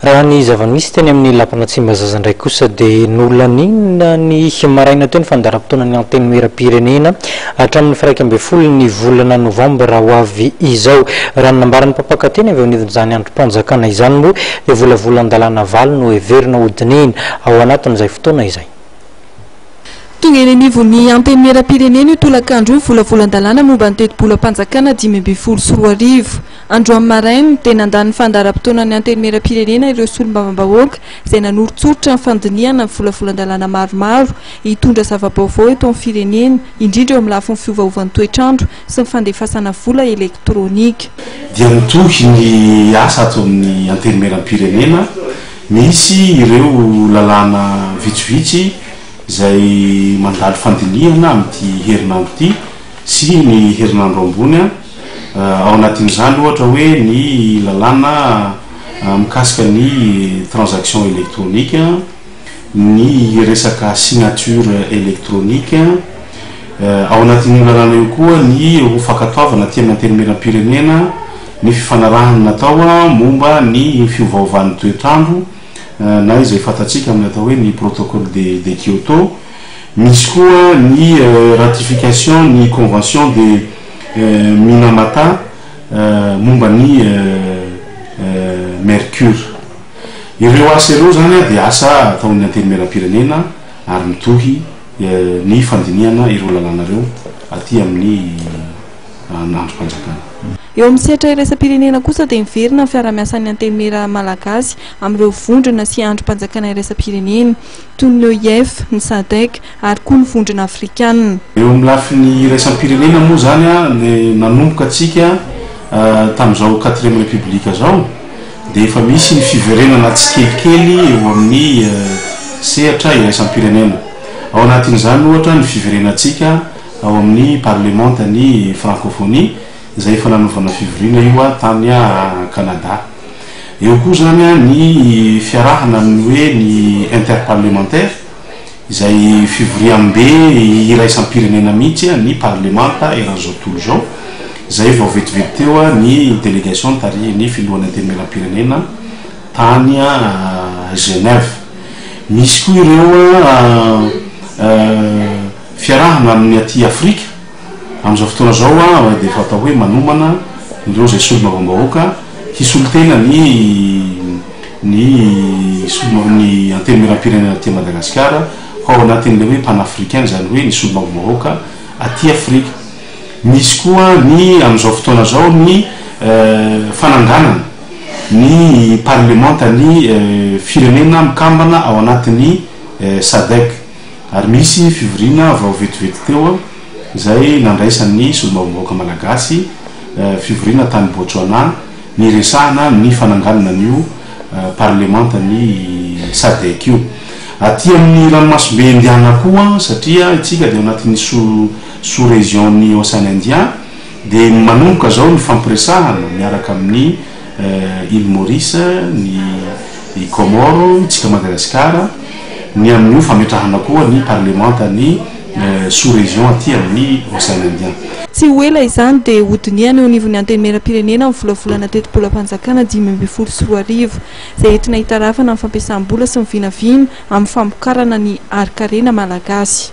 Raha ny zava-nisy teny amin'ny Lapana Tsimbazaza indray kosa dia nolaninina ny maraina teo ny fandaharam-potoanan'ny Antenimieram-pirenena hatramin'ny firaika ambin'ny folo ny volana novambra ho avy izao. Raha ny nambaran'ny mpampaka teny avy eo anivon'izany andrim-panjakana izany moa dia volavolan-dalàna valo no heverina ho dinihina ao anatin'izay fotoana izay. Tonga eny anivon'ny Antenimieram-pirenena io tolakandro io ny volavolan-dalàna momba ny tetibolam-panjakana dimy ambin'ny folo sy roa arivo. Andro amin'ny maraina dia nandà ny fandaharam-potoanan'ny Antenimierampirenena ireo solombavambahoaka izay nanoritsoritra ny fandinihana ny volavolan-dalàna maromaro hitondra zava-baovao eto amin'ny firenena, indrindra eo amin'ny lafiny fiovaovan'ny toetr'andro sy ny fandefasana vola elektronika. Dia mitohy ny asa ato amin'ny Antenimierampirenena. Misy ireo lalàna vitsivitsy izay mandalo fandinihana amin'ity herinandro ity sy ny herinandro ambony. Ao anatin'izany ohatra hoe ny lalàna mikasika ny transaction électronique, ny resaka signature électronique. Ao anatin'io lalàna io koa ny ho fankatoavana aty amin'ny Antenimierampirenena ny fifanarahana natao momba ny fiovaovan'ny toetr'andro na izay fantatsika amin'ny atao hoe ny protocole de de Kyoto. Misy koa ny ratification ny convention de Minamata momba ny Mercure. Ireo asa ireo izany dia asa ataon'ny Antenimierampirenena ary mitohy ny fandinihana ireo lalàna ireo aty amin'ny andrim-panjakana. Eo amin'ny sehatra iraisam-pirenena kosa dia miverina ny fiarahamiasan'ny Antenimiera malagasy amin'ireo vondrona sy andrim-panjakana iraisam-pirenena toy ny OIF, ny Sadec, ary koa ny Vondrona Afrikanina. Eo amin'ny lafiny iraisam-pirenena moa izany dia nanomboka antsika tamin'izao quatrième république izao dia efa misy ny fiverenana tsikelikely eo amin'ny sehatra iraisam-pirenena. Ao anatin'izany ohatra ny fiverenantsika ao amin'ny parlemantan'ny Francophonie izay efa nanaovana fivoriana io tany Canada. Eo koa izany ny fiarahana amin'ny hoe ny interparlementaire. izay fivoriambe iraisam-pirenena mihitsy ny parlemanta eran'izao tontolo izao, izay vao vetivety teo ny delegation nitarihin'ny filohan'ny antenimieram-pirenena tany Genève. Misy koa ireo fiarahana amin'ny aty Afrika. Amin'izao fotoana izao aho dia efa atao hoe manomana ireo izay solombavambahoaka hisolo tena ny ny solo ny antenimierampirenena aty Madagasikara ho ao anatin'ilay hoe panafricain izany hoe ny solombavambahoaka aty Afrika. Misy koa ny amin'izao fotoana izao ny fananganana ny parlemantan'ny firenena mikambana ao anatin'ny SADEC. Ary nisy fivoriana vao vetivety teo izay nandraisan'ny solombavambahoaka malagasy fivoriana tany Botswana niresahana ny fananganana an'io parlemantan'ny Sadec io. Aty amin'ny ranomasimbe Indiana koa satria isika dia ao anatin'ny sous-région-n'ny Ocean Indien dia manomboka izao ny fampiresahana miaraka amin'ny Île Maurice, ny i Comore, isika Madagasikara, ny amin'io fametrahana koa ny parlemanta ny sous région aty amin'ny Ocean Indien. Tsy ho ela izany dia ho dinihana eo anivon'ny Antenimierampirenena ny volavolana tetibolam-panjakana dimy ambin'ny folo sy roa arivo izay entina hitarafana ny fampiasam-bola sy ny vinavina amin'ny famokarana ny harinkarena malagasy.